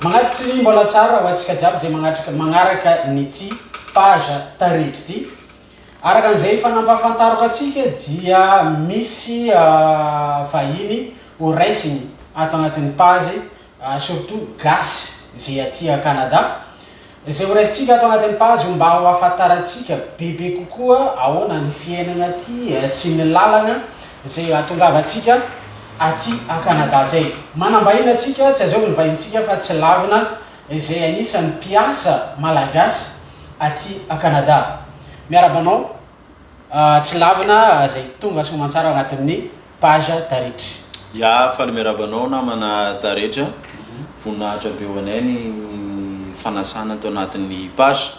Mankatry ny mbola tsara ho antsika jiaby izay magnatrika magnaraka ny ty page taridry ty. Araka an'izay efa nampahafantariko antsika dia misy vahiny ho raisiny ato agnatin'ny page surtout gasy izay aty Canada. Izay horaisintsika ato anatin'ny page io mba ho ahafantarantsika bebe kokoa ahoana ny fiainana aty sy ny lalana izay hahatongavantsika aty a Canada zay. Manam-bahiny antsika, tsy azovy ny vahintsika fa tsy lavina, izay anisan'ny mpiasa malagasy aty a Canada. Miarahaba anao. tsy lavina zay tonga soamantsara agnatin'ny page taretra. Ya, faly miarahaba anao namana taretra, voninahitra be ho anay ny fanasana ato anatin'ny page,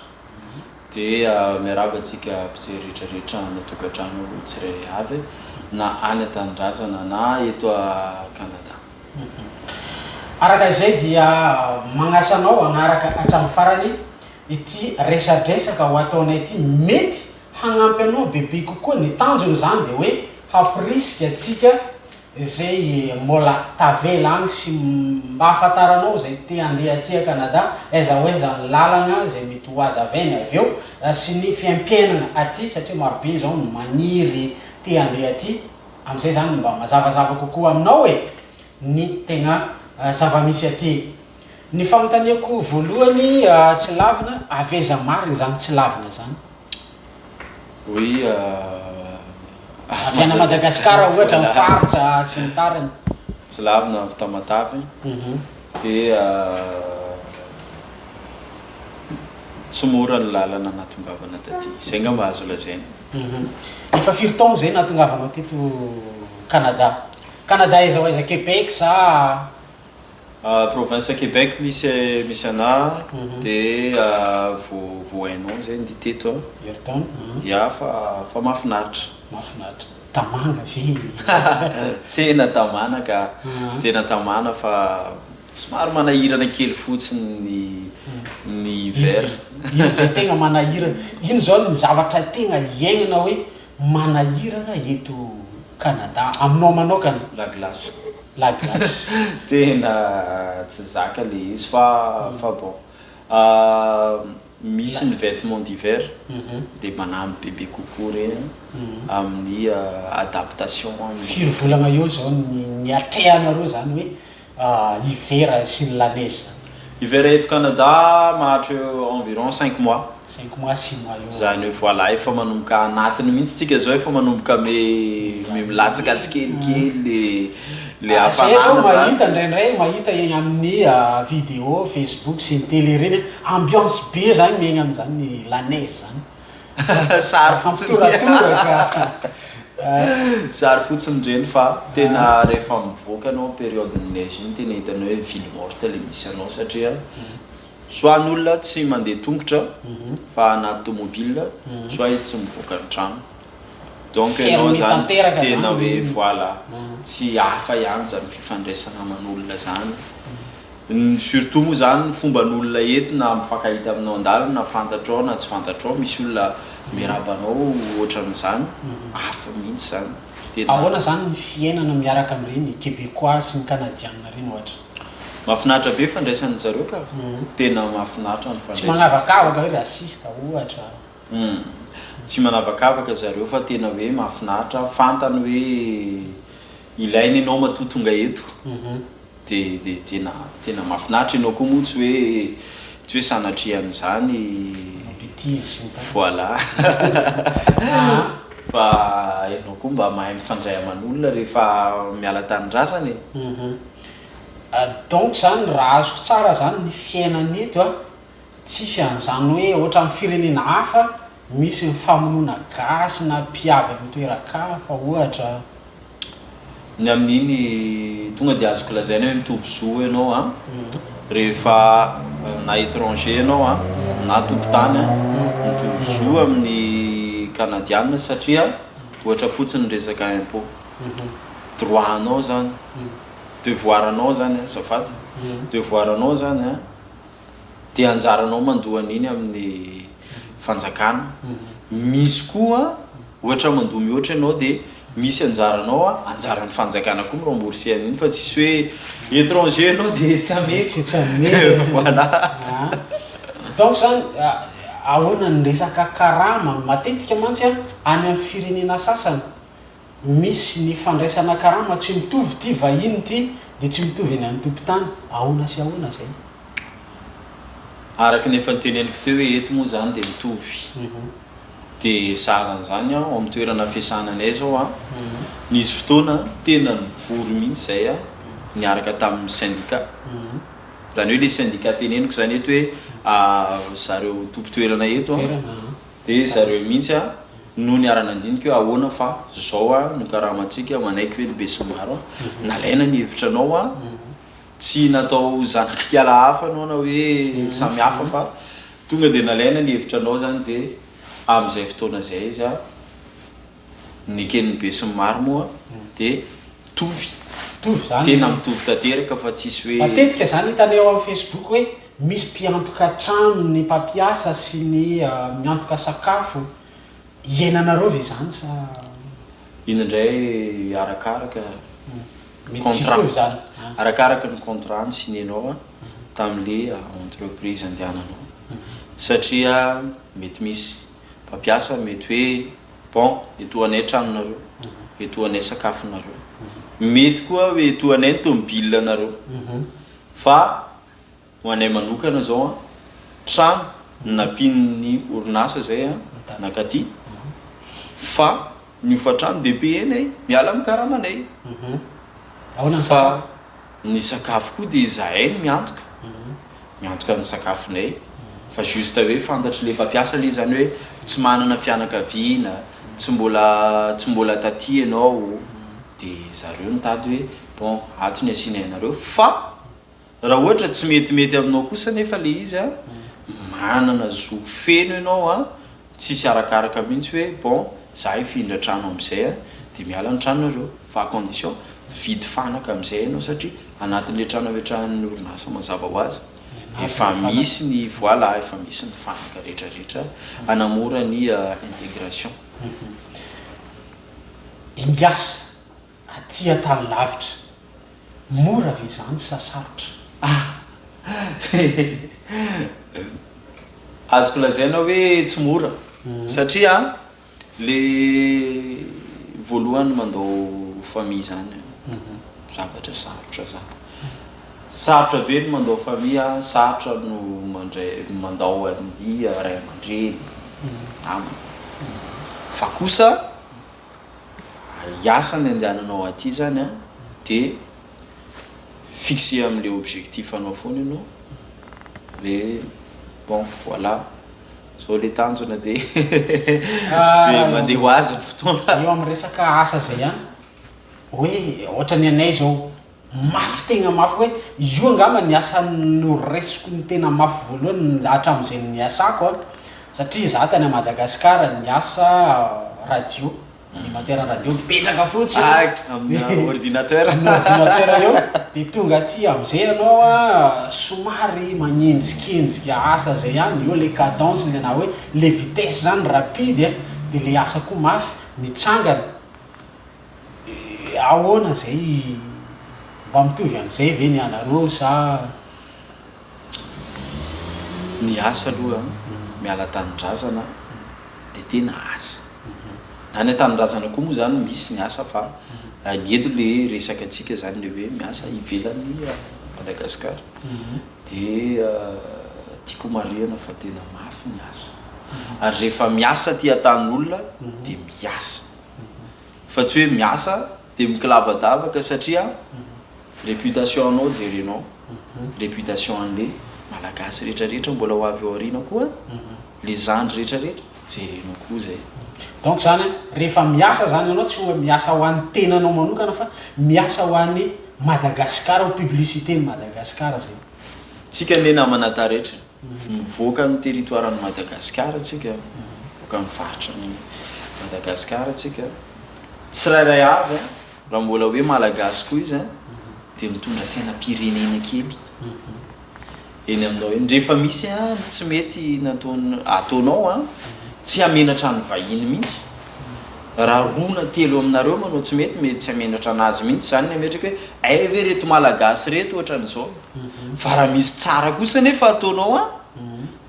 dia miarahaba antsika mpijery rehetrarehetra any an-tokantrano tsirairay avy na any an-tanindrazana na eto a Canada. Araka izay dia magnasa anao hagnaraka hatramin'ny farany Ity resadresaka ho ataonay ity mety hagnampy anao bebe kokoa, ny tanjony zany de hoe hampirisika antsika zay mbola tavela agny sy mba hahafantaranao zay te handeha aty a Canada aiza ho aiza ny lalagna zay mety ho azo aveny avy eo sy ny fiaimpiainagna aty satria maro be zao ny magniry te handeha aty amizay zany mba mazavazava kokoa aminao e ny tegna zavamisy aty. Ny fanontaniako voalohany tsy lavina, avy aiza marina izany tsy lavina izany? Oui, avy any Madagascar ohatra ny faritra sy ny tariny. Tsy lavina avy Tamatave, dia tsy mora ny lalana natongavana taty, izay angamba azo lazaina. Efa firy taona izay nahatongavanao teto Canada? Canada aiza ho aiza, Québec sa Province Québec misy misy anà de vo vohainao zay ndi teto a. Ayrton a. Ya fa fa mafinaritra. Mafinaritra. Tamana ve i. Tena tamana ka. Tena tamana fa somary manahirana kely fotsiny ny ny hiver. Iny zay tegna manahirana. Iny zao ny zavatra tegna hiaignana hoe. manahirana eto Canada aminao manokana? La glace. La glace. Tena tsy zaka le izy fa fa bon misy ny vêtements d'hiver dia manampy bebe kokoa ireny amin'ny adaptation. Firy volana eo izao ny atrehanareo izany hoe hiverany sy ny lanezy zany. Hivera eto Canada mahatreo environ cinq mois. Cinq mois six mois eo. Zany hoe voilà efa manomboka anatiny mihintsy tsika zao efa manomboka me me milatsaka tsikelikely le le hafanana zany. Zay zao mahita ndraindray mahita eny amin'ny video facebook sy ny tele reny ambiance be zany miaigna amizany ny lanezy zany. Zary fotsiny. Zary fotsiny reny fa tena rehefa mivoaka anao période ny neige iny tena hitany hoe ville morte le misy anao satria soit ny olona tsy mandeha tongotra mhm. fa anaty tomobile mhm. soit izy tsy mivoaka ny trano donc ianao zany tsy tena hoe voilà tsy hafa ihany zany fifandraisana aman'olona zany Ny surtout moa zany ny fomban olona eto na mifankahita aminao andalana na fantatro ao na tsy fantatro ao misy olona miraba anao ohatran zany hafa mihitsy zany tena. Ahoana zany ny fiainana miaraka amin'ireny Quebecois sy ny Canadianina ireny ohatra? Mafinaritra be fandraisan zareo ka! Tena mafinaritra ny fandraisan Tsy manavakavaka hoe raciste ohatra? Humm tsy manavakavaka zareo fa tena hoe mafinaritra, fantany hoe ilaina ianao matoa tonga eto. Dia dia tena tena mahafinaritra ianao koa moa tsy hoe tsy hoe sanatria an'izany Betizy ny tariny. Voilà fa ianao koa mba mahay mifandray aman'olona rehefa miala an-tanindrazana e. Uhum. Donc zany raha azoko tsara zany ny fiainana eto a. Tsisy an'izany hoe ohatran'ny firenena hafa misy ny famonoana gasy na mpiavy amin'ny toeran-kafa ohatra. Ny amin'iny tonga dia azoko lazaina hoe mitovy zo ianao an, rehefa na étranger ianao an, na tompon-tany an, mitovy zo amin'ny Kanadiana satria ohatra fotsiny ny resaka impôt. Droit anao izany, devoir anao izany an, azafady, devoir anao izany an. dia anjaranao mandoa an'iny amin'ny fanjakana. Misy koa ohatra mandoa mihoatra ianao dia misy anjaranao a, anjaran'ny fanjakana koa mi-rembourser an'iny fa tsisy hoe étranger ianao dia tsy hameko. Tsy hameko. Voilà. An. Donc izany ahoana ny resaka karama? Matetika mantsy any amin'ny firenena sasany, Misy ny fandraisana karama tsy mitovy ity vahiny ity dia tsy mitovy eny amin'ny tompon-tany ahoana sy ahoana izay. Araka ny efa noteneniko teo hoe eto moa izany dia mitovy dia zara an'izany aho amin'ny toerana fiasana anay izao an, nisy fotoana tena nivory mihitsy izay aho niaraka tamin'ny sendika, izany hoe ilay sendika teneniko izany eto hoe zareo tompon-toerana eto an, Dia zareo mihitsy a no niara-nandinika hoe ahoana fa zao a no karamantsika, manaiky ve ny besinimaro a, nalaina ny hevitranao a, tsy natao zanak'ikala hafa anao na hoe samy hafa fa tonga dia nalaina ny hevitranao zany dia amin'izay fotoana izay izy a. Ny eken'ny besinimaro moa dia mitovy. Mitovy izany. Tena mitovy tanteraka fa tsisy hoe. Matetika izany hitanay ao amin'ny Facebook hoe misy mpiantoka trano ny mpampiasa sy ny miantoka sakafo. Iainanareo ve izany sa. Iny indray arakaraka ny contrat. Arakaraka ny contrat nisineanao tamin'ilay entreprise andehananao satria mety misy mpampiasa mety hoe Bon, etoa anay tranonareo, etoa anay sakafonareo. Mety koa hoe etoa anay ny tomobilanareo. Fa ho anay manokana izao an, trano no nampian'ny orinasa izay an, nakaty. Fa ny hofantrano be be enay, miala amin'ny karamanay. Fa. Ny sakafo koa dia izahay no miantoka, miantoka ny sakafonay fa juste hoe fantatry le mpampiasa le zany hoe tsy manana fianakaviana, tsy mbola tsy mbola taty ianao de zareo mitady hoe bon ato ny asianay anareo fa raha ohatra tsy metimety aminao kosa nefa le izy a manana zo feno ianao a Tsisy arakaraka mihitsy hoe bon za hifindra trano amizay a de miala ny tranonareo fa à condition mividy fanaka amizay enao satria anatinle trano ametrahan'ny orinasa mazava ho azy efa misy ny voila efa misy ny fanaka rehetra rehetra hanamora ny intégration ny mpiasa. Aty an-tany lavitra. Mora ve izany sa sarotra? Ah! Tsy azoko lazaina hoe tsy mora satria le voalohany mandao famille izany zavatra sarotra izany. Sarotra ve ny mandao famille? Sarotra no mandray mandao an'ny ray aman-dreny, namana. Fa kosa hiasa ny andehananao aty zany an, de fixer amle objectif anao foana ianao de bon voilà zao le tanjona de de mandeha ho azy ny fotoana. Eo amin'ny resaka asa zay an, hoe ohatra ny anay zao. Mafy tegna mafy hoe io angamba ny asa noresiko ny tena mafy voalohany hatramin'izay niasako a, satria za tany Madagascar niasa radio, animateur radio mipetraka fotsiny amina ordinateur amina ordinateur eo de tonga aty amzay ianao a somary magnenjikenjika asa zay ihany, eo le cadence le na hoe le vitesse zany rapide a, de le asa koa mafy, mitsangana. Ahoana izay? Mba mitovy amin'izay ve ny anareo sa tsia? Ny asa aloha miala an-tanindrazana dia tena asa. Na any an-tanindrazana koa moa izany misy ny asa fa ny eto ilay resaka antsika izany ilay hoe miasa ivelan'i Madagasikara. Dia tiako homarihana fa tena mafy ny asa. Ary rehefa miasa aty an-tanin'olona dia miasa. fa tsy hoe miasa dia mikilabadavaka satria réputation anao jerenao réputation anle malagasy rehetra rehetra mbola ho avy ao aoriana koa le zandry rehetra rehetra jerenao koa zay. Donc zany rehefa miasa zany anao tsy hoe miasa ho an'ny tenanao manokana fa miasa ho an'i Madagascar ho publicité ny Madagascar zay. Tsika anie namana taretra. Mivoaka ny territoiran'i Madagasikara tsika, mivoaka ny faritran'i Madagasikara tsika, tsirairay avy an, raha mbola hoe Malagasy koa izy an, dia mitondra sainam-pirenena kely eny aminao eny, rehefa misy an ny tsy mety nataon, ataonao an, tsy hamenatra ny vahiny mihitsy, raha roa na telo aminareo manao tsy mety, mety tsy hamenatra anazy mihitsy, izany ny hametraka hoe, hay ve reto Malagasy reto ohatran'izao, fa raha misy tsara kosa nefa ataonao an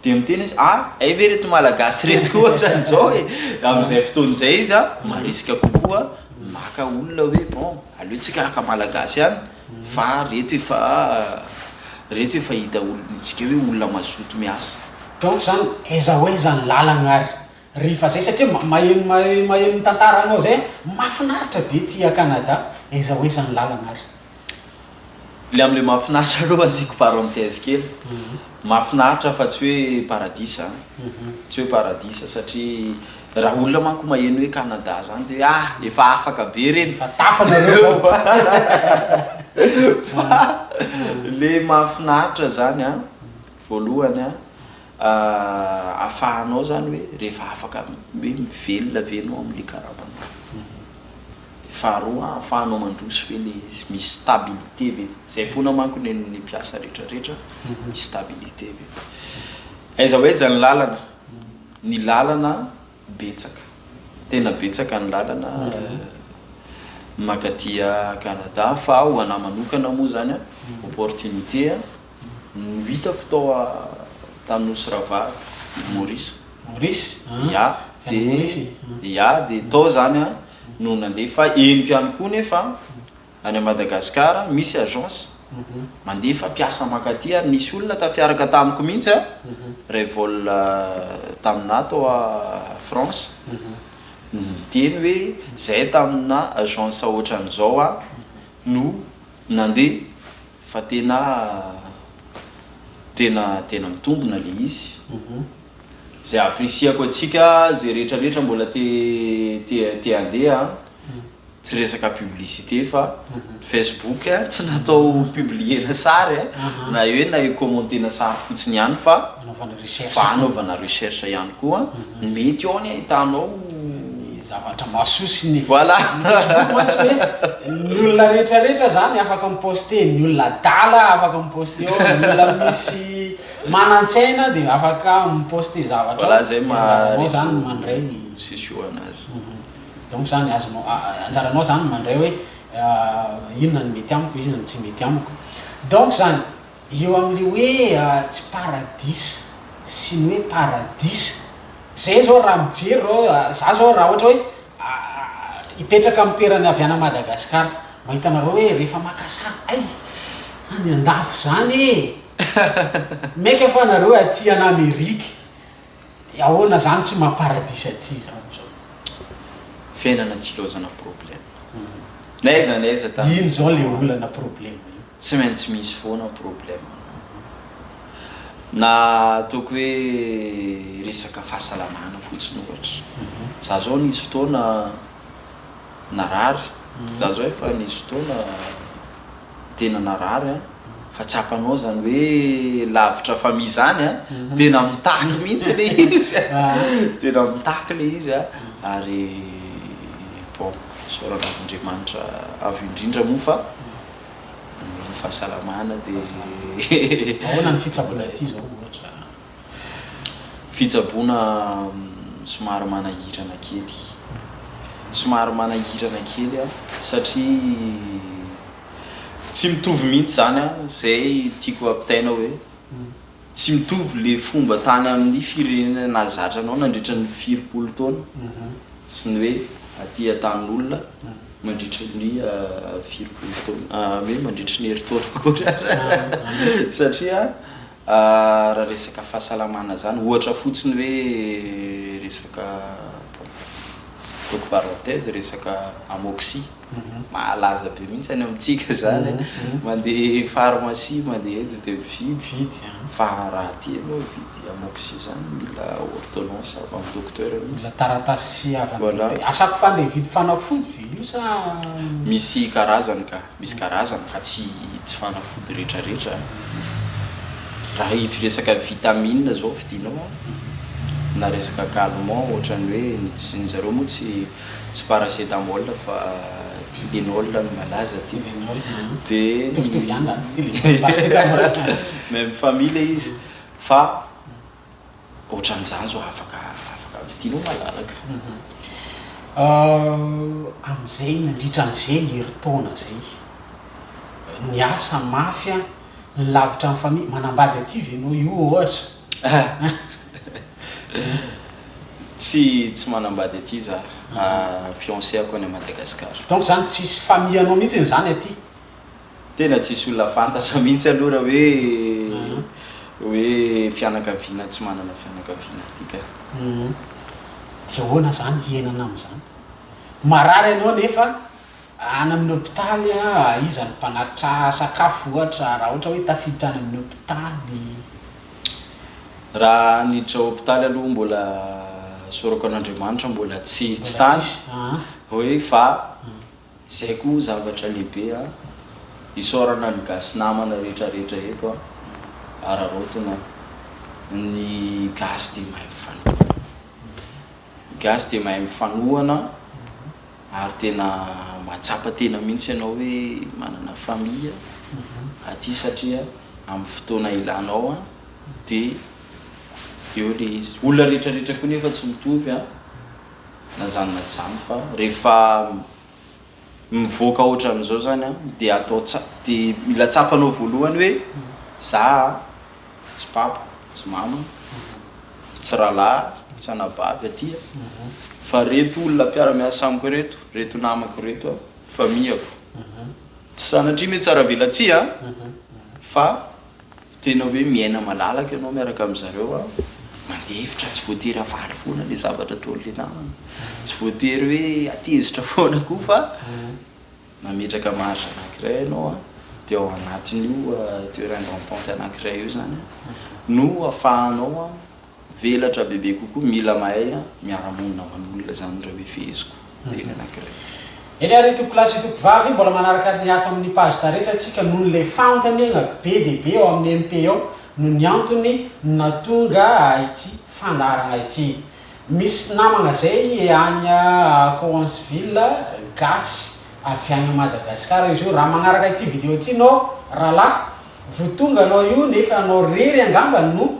dia miteny izy ah hay ve reto malagasy reto koa ohatran'izao e amin'izay fotoana izay izy an marisika kokoa maka olona hoe bon aleo tsika haka malagasy ihany fa reto efa reto efa hita olon'itsika hoe olona mazoto miasa donc zany aiza ho aiza ny lalana ary Rehefa zay satria maheno maheno ny tantara anao zay a! Mafinaritra be ty a Canada aiza ho aiza ny lalana ary? Le am le mahafinaritra aloha asiako parenthèse kely, mahafinaritra fa tsy hoe paradisa an! tsy hoe paradisa satria raha olona manko maheno hoe Canada zany de hoe ah! efa afaka be reny, efa tafa nareo zao fa fa le mahafinaritra zany an! voalohany an! ahafahanao zany hoe rehefa afaka hoe mivelona ve enao amle karama anao de faharoa ahafahanao mandroso ve le izy misy stabilité ve zay fona manko nen'ny mpiasa rehetra rehetra misy stabilité ve aiza ho aiza ny lalana ny lalana betsaka tena betsaka ny lalana makatia Canada fa ho anah manokana moa zany a opportunité a No hitako tao a tany nosy ravalo Maurice. Maurice a Ya de ya de tao zany a no nandeha fa henoko ihany koa nefa any a Madagascar misy agence mandefa mpiasa mankaty ary nisy olona tafiaraka tamiko mihitsy a ray vol taminah tao a France no niteny hoe zay tamina agence otran'izao a no nandeha Fa tena tena tena mitombina le izy zay appreciako atsika zay rehetra rehetra mbola te te te handeha an tsy resaka publicité fa facebook tsy natao publiena sary an na hoe na hi commenter-na sary fotsiny ihany fa fanaovana recherche ihany koa ny mety ao ny ahitanao ny zavatra mahasoa sy ny voilà ny facebook mantsy hoe ny olona rehetra rehetra zany afaka mi poster ny olona adala afaka mi poster ao ny olona misy manantsaina dia afaka mi poster zavatra ao voilà zay maha zany mandray ny sesio anazy donc zany azonao anjaranao zany mandray hoe inona ny mety amiko inona ny tsy mety amiko donc zany Eo amin'ilay hoe tsy paradisa sy ny hoe paradisa. Izay izao raha mijery izao, izaho izao raha ohatra hoe hipetraka amin'ny toeran'ny Haviana Madagascar, mahita anareo hoe rehefa maka sary, hay! any an-dafy izany e! Mainka fa nareo aty an'Amerique. Ahoana zany tsy maha paradisa aty zany zao. Fiainana tsy ilaozana problème n'aiza n'aiza tamin'ny Ino zao le olana problème io. Tsy maintsy misy foana problème no na ataoko hoe resaka fahasalamana fotsiny ohatra za zao nisy fotoana narary za zao efa nisy fotoana Tena narary an! Fa tsapanao zany hoe lavitra famille zany an! Tena mitaky mihitsy le izy an! Tena mitaky le izy an! Ary bon, isaorana an'Andriamanitra avo indrindra moa fa ny fahasalamana dia. Ahoana ny fitsaboana ity zao ohatra? Fitsaboana somary manahirana kely. Somary manahirana kely satria tsy mitovy mihitsy izany izay tiako hampitaina hoe tsy mitovy ilay fomba tany amin'ny firenena nahazatra anao nandritra ny firimpolo taona sy ny hoe aty Antanin'olona mandritra ny firimpolo taona, hoe mandritra ny herintaona akory ary satria Raha resaka fahasalamana zany ohatra fotsiny hoe resaka ataoko parenthèse resaka amoxy malaza be mihitsy any amintsika zany a, mandeha pharmacie mandeha etsy de mividy, fa raha aty ianao hividy amoxy zany mila ordonnance avy amin'ny docteur mihitsy, mila taratasy avy amin'ny docteur, asako fa andeha hividy fanafody ve io sa. Misy karazany ka. Misy karazany fa tsy tsy fanafody retraretra raha ivy resaka vitamine zao vidinao a na resaka calmant ohatrany hoe ny tsy ny zareo moa tsy tsy paracetamol fa tylenol no malaza aty de mitovitovy ihany zany tylenol paracetamol même famille le izy fa Ohatran'izany zao afaka afaka vidinao malalaka. Amin'izay nandritra an'izay herintaona izay niasa mafy aho, nilavitra amin'ny famille, manambady aty ve ianao io ohatra? Tsy tsy manambady aty za, fiancé-ako any Madagascar. Donc zany tsisy famille-nao mihitsy zany aty? Tena tsisy olona fantatra mihitsy aloha raha hoe hoe fianakaviana tsy manana fianakaviana aty ka. Dia ahoana izany hienana amin'izany? Marary ianao nefa any amin'ny hopitaly an, iza no mpanatitra sakafo ohatra raha ohatra hoe tafiditra any amin'ny hopitaly? Raha niditra hopitaly aloha mbola sorako an'Andriamanitra mbola tsy tsy tany hoe fa Zay ko zavatra lehibe a! Isaorana ny gasy namana rehetra rehetra eto a! Araraotina a! Ny gasy dia mahay mifanohana. Ny gasy dia mahay mifanohana ary tena mahatsapa tena mihitsy ianao hoe manana famille aty satria amin'ny fotoana ilanao a! Dia eo ilay izy. Olona rehetra rehetra koa nefa tsy mitovy a! na zany na zany fa rehefa mivoaka otran'izao zany an de atao tsa de mila tsapanao voalohany hoe za a tsy papa tsy mama tsy rahalahy tsy anabavy aty a fa reto olona mpiaramiasa amiko reto reto namako reto a famiako tsy sanatria metsaravelatsia fa Tena hoe miaina malalaka ianao miaraka amin-dry zareo an! Mandeha hevitra, tsy voatery havaly foana ilay zavatra ataon' ilay namana, tsy voatery hoe hatezitra foana koa fa mametraka marge anankiray ianao an! Dia ao anatin'io terrain d'entente anankiray io izany an! no afahanao an! Velatra bebe kokoa mila mahay miara monina aman'olona zany reo e feheziko teny anakiray. Eny ary tompoko lahy sy tompoko vavy mbola manaraka ny ato amin'ny page taretra tsika nohon'ny le fanontaniagna be dia be ao amin'ny MP ao no ny antony natonga ity fandaharagna ity misy namagna zay agny Cowansville gasy avy agny Madagascar izy io raha magnaraka ity video ity nao ralahy vo tonga anao io nefa anao rery angamba no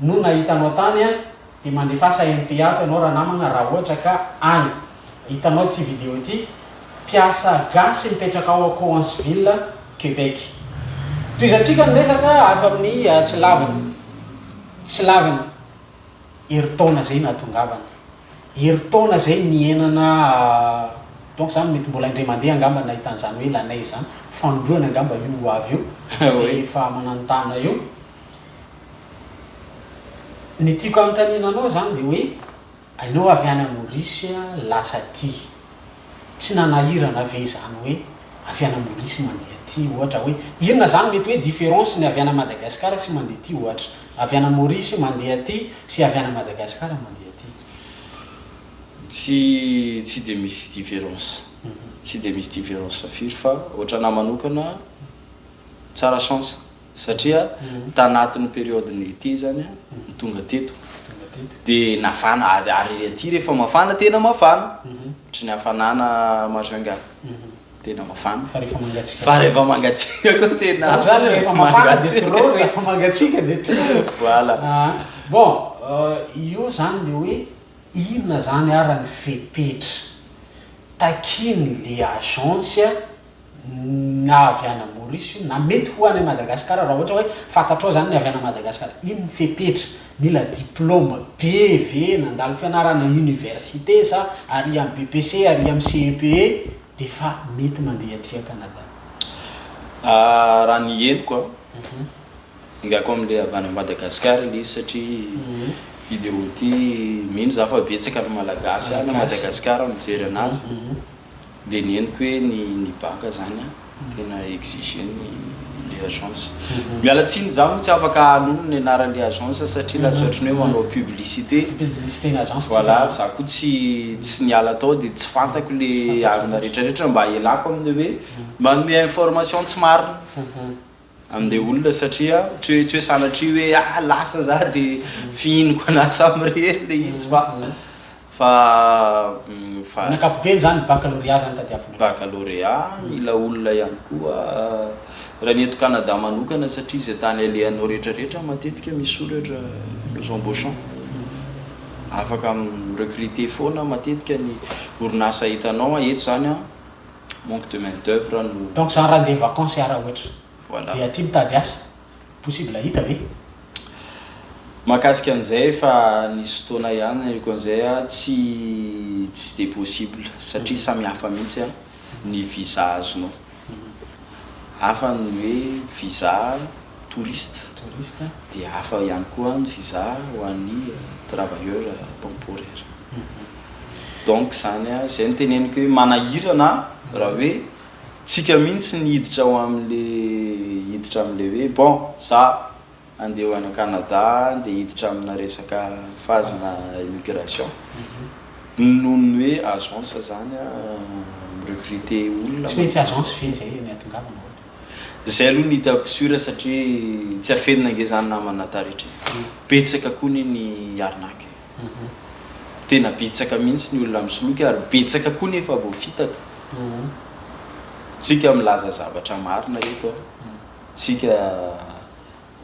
no nahita anao tany an! dia mandefasa MP ato ianao ranamagna raha ohatra ka any! hitanao ity video ity! mpiasa gasy mipetraka ao Cowansville, Quebec! tohizantsika ny resaka ato amin'ny tsy laviny tsy laviny! herintaona zay nahatongavana! herintaona zay nihenana donc zany mety mbola indray mandeha angamba nahita an'izany hoe la neige zany! fandroana angamba io ho avy io! zay efa mananotana io! Ny tiako anontaniana anao izany dia hoe ianao avy any Maurice lasa aty, tsy nanahirana ve izany hoe avy any Maurice mandeha aty ohatra hoe inona izany mety hoe différence ny avy any Madagascar sy mandeha aty ohatra, avy any Maurice mandeha aty sy avy any Madagascar mandeha aty? Tsy tsy dia misy différence, tsy dia misy différence firy fa ohatran'ahy manokana tsara chance Satria tanatin'ny période-ny été izany no tonga teto. Dia nafana, ary aty rehefa mafana, tena mafana. Ohatry ny hafanana majunga. Tena mafana. Fa rehefa mangatsiaka. Fa rehefa mangatsiaka koa tena. Koa izany rehefa mafana dia trop, rehefa mangatsiaka dia trop. Voilà. Bon, io izany ilay hoe inona izany ary ny fepetra takian'ilay agence. na avy ana Maurice io na mety ho any Madagascar raha ohatra hoe fantatrao zany ny avy ana Madagascar ino ny fepetra mila diploma be ve nandalo fianarana université sa ary am BPC ary am CEPE de fa mety mandeha aty a Canada. Ah raha ny henoko a, engako amle avy any Madagascar ilay izy satria hidiro ty mino za fa betsaka ny Malagasy any Madagascar mijery anazy. Dia ny henoko hoe ny ny baka zany an, tena exiger ny le agence. Miala tsiny za moa tsy afaka hanono ny anaran'le agence satria lasa ohatry ny hoe manao publicité. Publicité ny agence tsika. Voilà, za koa tsy tsy niala tao dia tsy fantako le arina retraretra mba ialako aminy hoe manome information tsy marina. An'ilay olona satria tsy hoe tsy hoe sanatria hoe ah lasa za de fihiniko anah samy irery ilay izy fa fa fa Amin'ny ankapobeny zany ny baccalauréat zany tadiavina. Baccalauréat, mila olona ihany koa raha ny eto Canada manokana satria izay tany alehanao rehetra rehetra matetika misoratra nous embauchons afaka mi-recruter foana matetika ny orinasa hitanao an, eto zany an Manque de main d'oeuvre no. Donc zany raha ndeha vacances hiara ohatra Voilà. dia aty mitady asa, possible hahita ve? Mahakasika an'izay efa nisy fotoana ihany nahiko an'izay a, tsy tsy dia possible satria samy hafa mihitsy a ny visa azonao. Hafa ny hoe visa. touriste touriste dia hafa ihany koa ny visa ho an'ny travailleur temporaire donc zany a zay no teneniko hoe manahirana raha hoe tsika mihitsy ny hiditra ao amle hiditra amle hoe bon za andeha ho any Canada andeha hiditra amina resaka phase na immigration noho ny hoe agence zany a mi recruter olona tsy maintsy agence ve zay no ahatongavana ohatra Zay aloha ny hitako sur satria tsy afenina ange zany namana taretra e! Betsaka koa anie ny arnaque e! Tena betsaka mihitsy ny olona misoloky ary betsaka koa ny efa voafitaka. Tsika milaza zavatra marina eto an! Tsika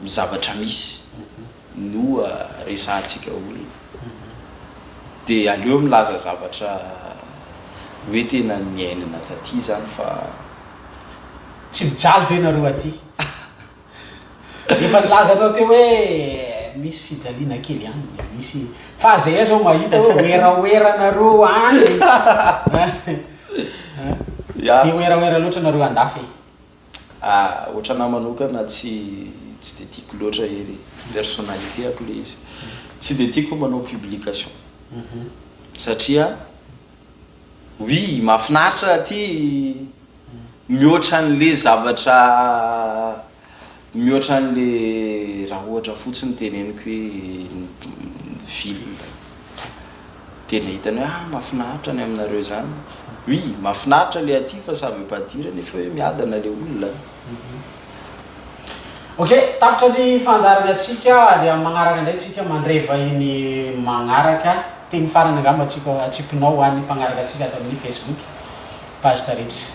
ny zavatra misy no resahantsika olona dia aleo milaza zavatra hoe tena niainana taty zany fa. Tsy mijaly ve nareo aty? Efa nilazanao teo hoe misy fijaliana kely any dia misy fa zay aza aho mahita hoe werawera nareo any e! Dia werawera loatra nareo andafy e! Ah otranahy manokana tsy tsy de tiako loatra hery personnalité ako le izy tsy de tiako manao publication satria oui mafinaritra raha ty mihoatra anle zavatra mihoatra anle raha ohatra fotsiny teneniko hoe ville. Dia ilay hitany hoe ah mafinaritra ny aminareo izany. Oui, mafinaritra ilay aty fa ça veut pas dire nefa hoe miadana ilay olona an. Ok, tapitra ny fandaharana tsika dia amin'ny magnaraka indray tsika mandray vahiny magnaraka, teny farany angamba tsika atsipinao ho an'ny mpagnaraka antsika ato amin'ny Facebook page Taretra.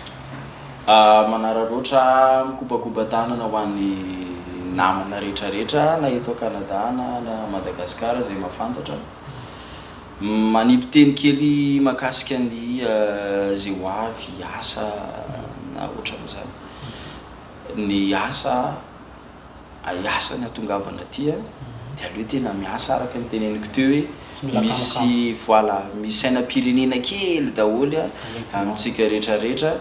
Ah manara loatra ah mikopakopa tanana ho an'ny namana retraretra na eto a Canada na any a Madagascar zay mahafantatra. Manipy teny kely mahakasika ny ze ho avy, asa na otran'izany. Ny asa, ay asa ny atongavana aty a, de aleo tena miasa araka ny teneniko teo hoe misy voilà misy sainam-pirenena kely daholo a amintsika retraretra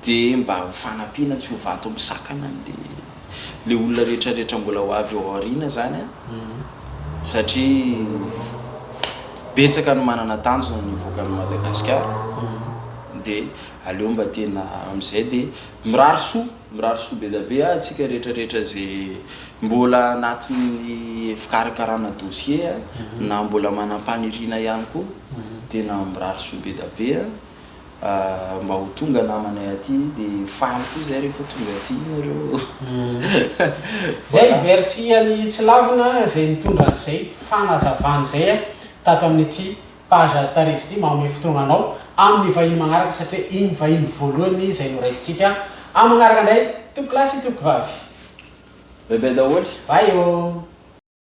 de mba ho fanampiana tsy ho vato misakana anle. le olona rehetra rehetra mbola ho avy ao aoriana zany an, satria betsaka ny manana tanjona ny hivoaka an'i Madagasikara de aleo mba tena amizay de mirary soa, mirary soa bedave ah tsika rehetra rehetra ze mbola anatin'ny fikarakarana dossier an, na mbola manam-paniriana ihany koa, tena mirary soa bedave an. Mba ho tonga namanay aty de faly koa zay rehefa tonga aty nareo Zay, merci an'i Tsilavina zay nitondra an'izay fanazavana izay tato amin'ity page Tarindry Dia magnome fotoagna anao amin'ny vahiny magnaraka satria igny vahiny voalohany izay noraisintsika amin'ny magnaraka indray tompokolahy sy tompokivavy. Bye bye daholo. Bye ô.